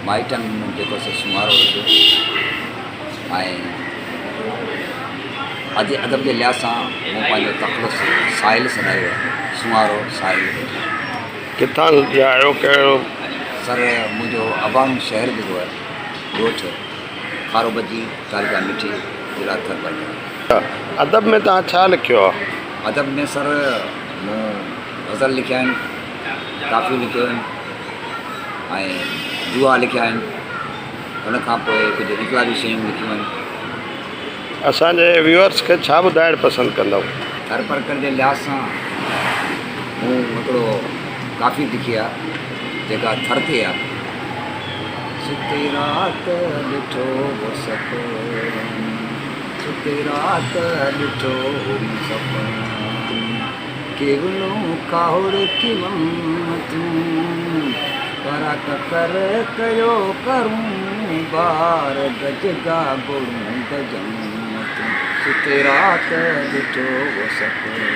مائٽن جيڪو سو سونهارو رکيو ۽ ادي ادب جي لحاظ سان مون پنهنجو تخلص ساحل سڏايو آهي سونهارو ساحل ڪٿان جا آهيو ڪهڙو سر منهنجو اباڻو شهر جيڪو آهي ڳوٺ کارو بجي تعلقه مٺي ضلع ٿرپر ادب ۾ توهان ڇا لکيو آهي ادب ۾ سر مون غزل لکيا آهن ڪافيون لکيون آهن ۽ دوها لکيا آهن ان کان پوء ڪجهه انقلابي شيون لکيون آهن اسانجي ويورس کي ڇا ٻڌائڻ پسند ڪندؤ؟ هر پرڪر جي لحاظ سان مون هڪڙو ڪافي لکي آ جيڪا ٿر تي آ ستي رات ڏٺو هو سپن ستي رات ڏٺو هو سپن ڪيولو ڪاهوڙ ڪيوم تون، ڪرا ڪڪر ڪيو ڪرون بار، گج گا گوڙون گجم تون، ست رات ڏٺو هو سپنو.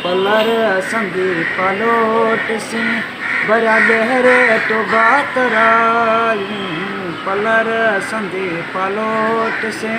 پلر سندي پالوٽ سين، ڀريا ڳهر ٽوڀا ترائين، پلر سندي پالوٽ سين،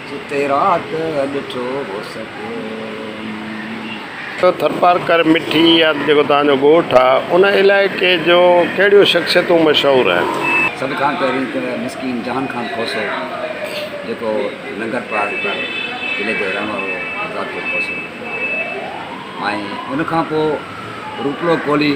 ستي رات ڏٺو هو سپنو. ٿرپارڪر مٺي يا ته جيڪو توهان جو ڳوٺ آ ان علائقي جو ڪهڙيون شخصيتون مشهور آهن؟ سڀ کان پهرين ته مسڪين جهان خان کوسو جيڪو لنگر پارڪر ضلعي جو رهڻ وارو ذاڪر کوسو ۽ ان کان پوء روپلو ڪولهي،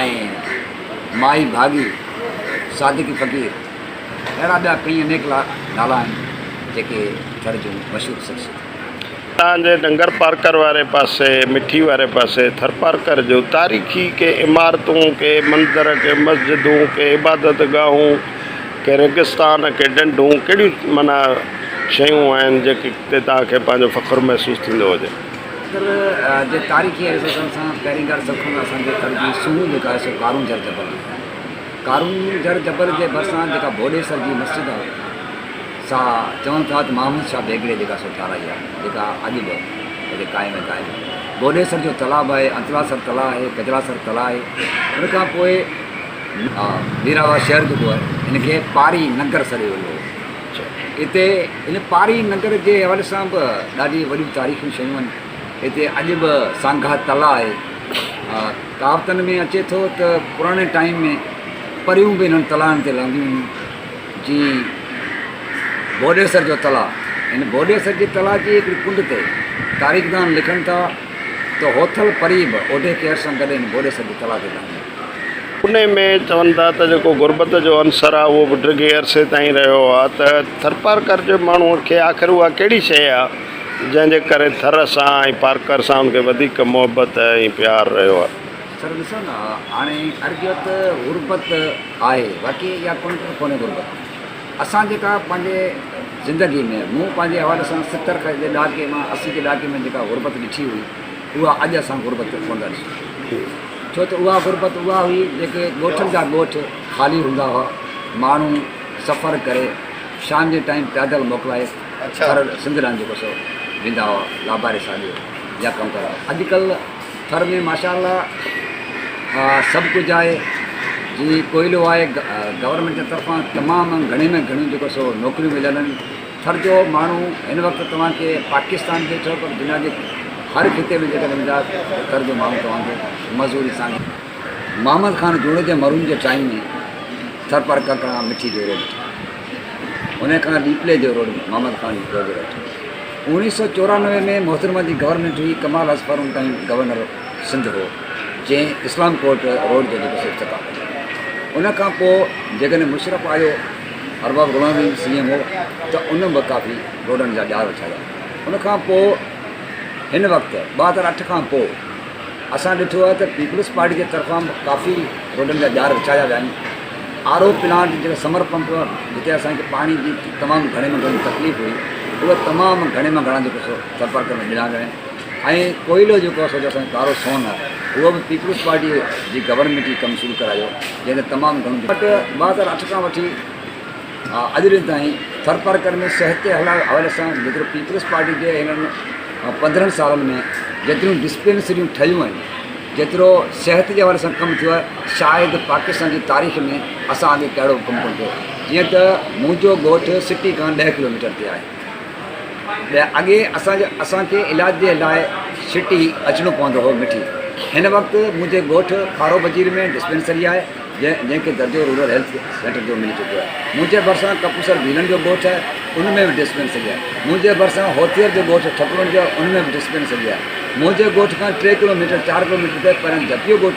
۽ مائي ڀاڳي، صادقي فقير اهڙا ٻيا ڪئين انيڪ نالا آهن جيڪي ٿر جون مشهور شخصيتون. اتان جي ننگر پارڪر واري پاسي، مٺي واري پاسي، ٿرپارڪر جون تاريخي ڪي عمارتون، ڪي مندر، ڪي مسجدون، ڪي عبادت گاهون، ڪي ريگستان، ڪي ڍنڍون ڪهڙيون معنيٰ شيون آهن جيڪي تي توهان کي پنهنجو فخر محسوس ٿيندو هجي. مصر جي تاريخي حيثيتن سان پهرين ڳالهه سڀ کان اسان کي ڪرڻ جي سونهن جيڪا آهي سو قارون جر جبل آهي. قارون جر جبل جي ڀرسان جيڪا ڀوڏيسر جي مسجد آهي سا چون ٿا ته محمد شاهه بيگڙي جيڪا سو ٺاهرائي آهي جيڪا اڄ به هتي قائم ۽ دائم آهي. ڀوڏيسر جو تلاء به آهي، انتلاسر تلاء آهي، ڪجلاسر تلاء آهي. ان کان پوء. ميراوا شهر جيڪو آهي ان کي پاري نگر سڏيو ويندو هو. هتي هن پاري ننگر جي حوالي سان به ڏاڍي وڏيون تاريخي شيون آهن. هتي اڄ به سانگها تلاء آهي. ڪهاوتن ۾ اچي ٿو ته پراڻي ٽائيم ۾ پريون به هنن تلائن تي لهنديون هيون. جيئن ڀوڏيسر جو تلاء. هن ڀوڏيسر جي تلاء جي هڪڙي ڪنڊ تي تاريخدان لکن ٿا ته هوٿل پري به اوڍي ڪير سان گڏ هن ڀوڏيسر جي تلاء تي لهندي هئي. انهيء ۾ چون ٿا ته جيڪو غربت جو عنصر آهي، اهو به ڊگهي عرصي تائين رهيو آهي ته ٿرپارڪر جي ماڻهوء کي آخر اها ڪهڙي شيء آهي، جنهن جي ڪري ٿر سان ۽ پارڪر سان هن کي وڌيڪ محبت ۽ پيار رهيو آهي. سر ڏسو نه هاڻي عرض اهو ته غربت آهي واقعي اها ڪونه ته ڪونهي غربت. اسان جيڪا پنهنجي زندگيء ۾ مون پنهنجي حوالي سان ستر کان جي ڏهاڪي مان اسي جي ڏهاڪي ۾ جيڪا غربت ڏٺي هئي، اها اڄ اسان غربت ڪونه ٿا ڏسون. ڇو ته اها غربت اها هئي جيڪي ڳوٺن جا ڳوٺ خالي هوندا هئا، ماڻهو سفر ڪري شام جي ٽائيم پيادل موڪلائي ٿر سنڌ ڏانهن جيڪو سو ويندا هئا لاباري ساڄو يا ڪم ڪرڻ اڄڪلهه ٿر ۾ ماشاءالله سڀ ڪجهه آهي جي ڪوئلو آهي گورنمينٽ جي طرفان تمام گهڻي ۾ گهڻيون جيڪو سو نوڪريون مليل آهن ٿر جو ماڻهو هن وقت توهان کي پاڪستان جي چئو پر دنيا جي هر خطي ۾ جيڪڏهن ويندا ته ٿر جو ماڻهو توهان کي مزوري سان محمد خان جوڻيجي مرحوم جي ٽائيم ۾ ٿر پر ڪڪڙا مٺي جو روڊ ٺهيو ان کان ڏيپلي جو روڊ محمد خان جي دور جو روڊ ٺهيو اوڻيهه سو چورانوي ۾ محترمه جي گورنمينٽ هئي ڪمال اظفر ان ٽائيم گورنر سنڌ هو جنهن اسلام ڪوٽ روڊ جو جيڪو سيٺ ٿڪا ان کان پوء جيڪڏهن مشرف آيو ارباب غلام به سي ايم هو ته ان به ڪافي روڊن جا ڄار اڇايا. ان کان پوء هن وقت ٻه هزار اٺ کان پوء اسان ڏٺو آهي ته پيپلز پارٽي جي طرفان به ڪافي روڊن جا ڄار اڇايا ويا آهن. آر او پلانٽ جيڪي سمر پمپ جتي اسان کي پاڻي جي تمام گهڻي ۾ گهڻي تڪليف هئي اهي تمام گهڻي مان گهڻا جيڪو سو سرپرڪ ۾ ڏنا ويا آهن. ۽ ڪوئلو جيڪو آهي سو جو اسان جو ڪارو سون آهي اهو به پيپلز پارٽيء جي گورنمينٽ ئي ڪم شروع ڪرايو جنهن تي تمام گهڻو وٽ ٻه هزار اٺ کان وٺي اڄ ڏينهن تائين ٿرپارڪر ۾ صحت جي حوالي سان جيترو پيپلز پارٽي جي هنن پندرهن سالن ۾ جيتريون ڊسپينسريون ٺهيون آهن جيترو صحت جي حوالي سان ڪم ٿيو آهي شايد پاڪستان جي تاريخ ۾ اسان آڳي ڪهڙو ڪم ڪونه ٿيو جيئن ته منهنجو ڳوٺ سٽي کان ڏهه ڪلوميٽر تي آهي اڳي اسان کي علاج جي لاء سٽي اچڻو پوندو هو مٺي هن وقت منهنجي ڳوٺ کارو وزير ۾ ڊسپينسري آهي جنهن کي درجو رورل هيلٿ سينٽر جو ملي چڪو آهي منهنجي ڀرسان ڪپوسر ڀيلن جو ڳوٺ آهي ان ۾ به ڊسپينسري آهي منهنجي ڀرسان هوٿيئر جو ڳوٺ ٺڪرون جو ان ۾ به ڊسپينسري آهي منهنجي ڳوٺ کان ٽي ڪلو ميٽر چار ڪلو ميٽر تي پريان جهپيو ڳوٺ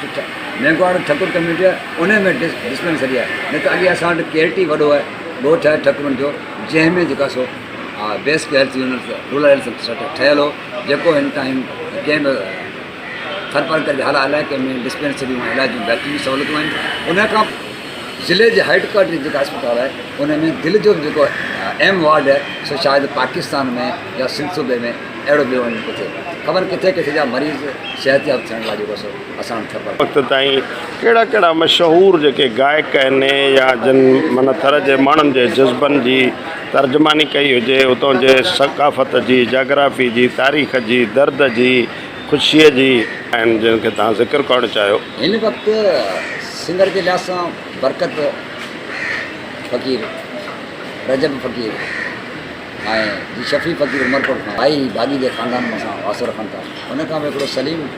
مينگهواڙ ٺڪر ڪميونٽي آهي ان ۾ ڊسپينسري آهي نه ته اڳي اسان وٽ ڪيرٽي وڏو ڳوٺ آهي ٺڪرون جو جنهن ۾ جيڪا سو basic health unit rural health centre ٺهيل هو جيڪو هن ٽائيم ڪنهن به ٿرپر ڪري هر علائقي ۾ ڊسپينسريون ۽ علاج جون بهتريون سهولتون آهن ان کان ضلعي جي هيڊ ڪوارٽر جيڪا اسپتال آهي ان ۾ دل جو جيڪو اهم وارڊ آهي سو شايد پاڪستان ۾ يا سنڌ صوبي ۾ اهڙو ٻيو وڃي ڪٿي خبر ڪٿي ڪٿي جا مريض صحت ياب ٿيڻ لاء جيڪو سو وقت تائين ڪهڙا ڪهڙا مشهور جيڪي گائڪ آهن يا جن من ٿر جي ماڻهن جي جذبن جي ترجماني ڪئي هجي، اتان جي ثقافت جي، جاگرافي جي، تاريخ جي، درد جي، خوشيء جي. آهن جن کي توهان ذڪر ڪرڻ چاهيو. هن وقت سنگر جي لحاظ سان برڪت فقير، رجب فقير ۽ جي شفيع فقير عمرڪوٽ کان آئي هي باغي جي خاندان سان واسطو رکن ٿا. ان کان پوء هڪڙو سليم.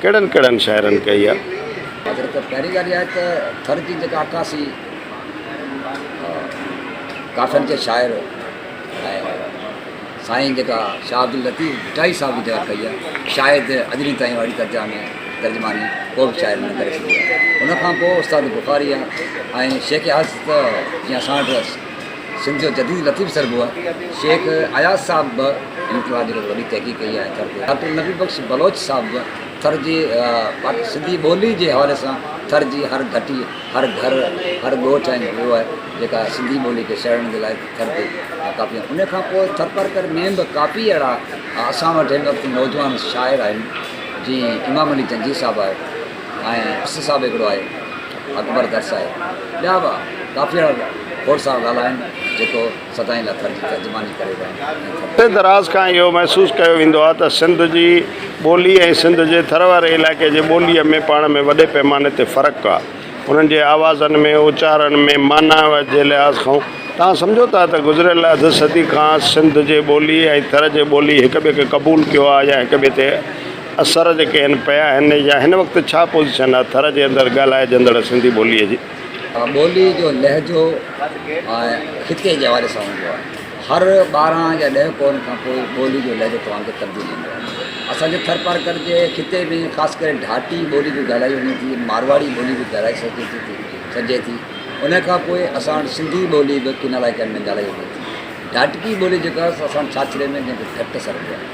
ڪهڙن ڪهڙن شاعرن ڪئي آهي؟ حاضر ته پهرين ڳالهه اها آهي ته ٿر جي جيڪا عڪاسي ڪافين جي شاعر ۽ سائين جيڪا شاهه عبداللطيف ڀٽائي صاحب جي جيڪا ڪئي آهي شايد اڄرين تائين اهڙي ترجا ۾ ترجماني ڪو به شاعر نه ڪري سگهيو آهي ان کان پوء استاد بخاري آهي ۽ شيخ اياز ته جيئن اسان وٽ سنڌ جو جديد لطيف سرگو شيخ اياز صاحب به هن ڪلاس جي وڏي تحقيق ڪئي آهي ٿر تي ڊاڪٽر نبي بخش بلوچ صاحب به ٿر جي سنڌي ٻولي جي حوالي سان ٿر جي هر گهٽي هر گهر هر ڳوٺ ۽ ويو آهي جيڪا سنڌي ٻولي کي سهيڙڻ جي لاء ٿر تي ڪاپي ان کان پوء ٿرپارڪر ۾ به ڪاپي اهڙا اسان وٽ هن وقت نوجوان شاعر آهن جي امام علي جنجي صاحب آهي آهي ۽ اسي صاحب هڪڙو آهي اڪبر درس آهي ٻيا به ڪافي اهڙا کوڙ سارا نالا آهن جيڪو سدائين لاء ترجماني ڪري ويا آهن. عرصي دراز کان اهو محسوس ڪيو ويندو آهي ته سنڌ جي ٻولي ۽ سنڌ جي ٿر واري علائقي جي ٻوليء ۾ پاڻ ۾ وڏي پيماني تي فرق آهي انهن جي آوازن ۾ اچارڻ ۾ معنيٰ جي لحاظ کان توهان سمجهو ٿا ته گذريل اڌ صدي کان سنڌ جي ٻولي ۽ ٿر جي ٻولي هڪ ٻئي کي قبول ڪيو آهي يا هڪ ٻئي تي اثر جيڪي هن پيا آهن يا هن وقت ڇا پوزيشن آهي ٿر جي اندر ڳالهائجندڙ سنڌي ٻوليء جي؟ ٻوليء جو لهجو خطي جي حوالي سان هوندو آهي. هر ٻارهن يا ڏهه ڪورن کان پوء ٻوليء جو لهجو توهان کي تبديل ايندو آهي. اسان جي ٿرپارڪر جي خطي ۾ خاص ڪري ڍاٽي ٻولي به ڳالهائي وڃي ٿي، مارواڙي ٻولي به ڳالهائي سگهجي ٿي ٿي سگهجي ٿي. ان کان پوء اسان وٽ سنڌي ٻولي به ڪن علائقن ۾ ڳالهائي وڃي ٿي. ڍاٽڪي ٻولي جيڪا اسان ساڇڙي ۾ جنهن کي ڍٽ سڏبو آهي.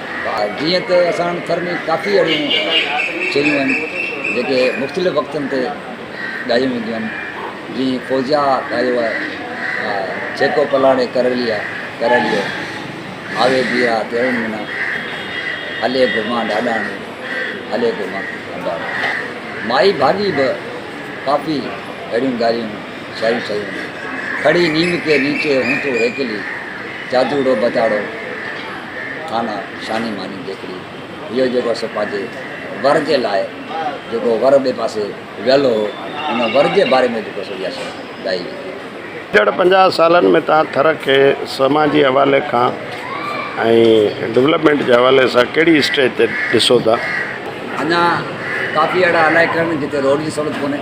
جيئن ته اسان ٿر ۾ ڪافي اهڙيون شيون آهن جيڪي مختلف وقتن تي ڳايون وينديون آهن جيئن فوزيا ڳايو آهي ڇيڪو پلاڙي ڪرلي آهي ڪرلي آوي بي آهي تيرن منا هلي گھمان ڏاڏاڻي هلي گھمان ڏاڏاڻي مائي ڀاڳي به ڪافي اهڙيون ڳالهيون شاعريون شاعريون آهن کڙي نيم کي نيچي هون تو هيڪلي جادوڙو بتاڙو ٿانه شاني ماني جيڪڙي اهو جيڪو اسي پنهنجي ور جي لاء جيڪو ور ٻئي پاسي ويل هو ان ور جي باري ۾ جيڪو سو اها ڳائي وئي ايندڙ پنجاهه سالن ۾ توهان ٿر کي سماجي حوالي کان ۽ ڊولپمينٽ جي حوالي سان ڪهڙي اسٽيج تي ڏسو ٿا؟ اڃا ڪافي اهڙا علائقا آهن جتي روڊ جي سهولت ڪونهي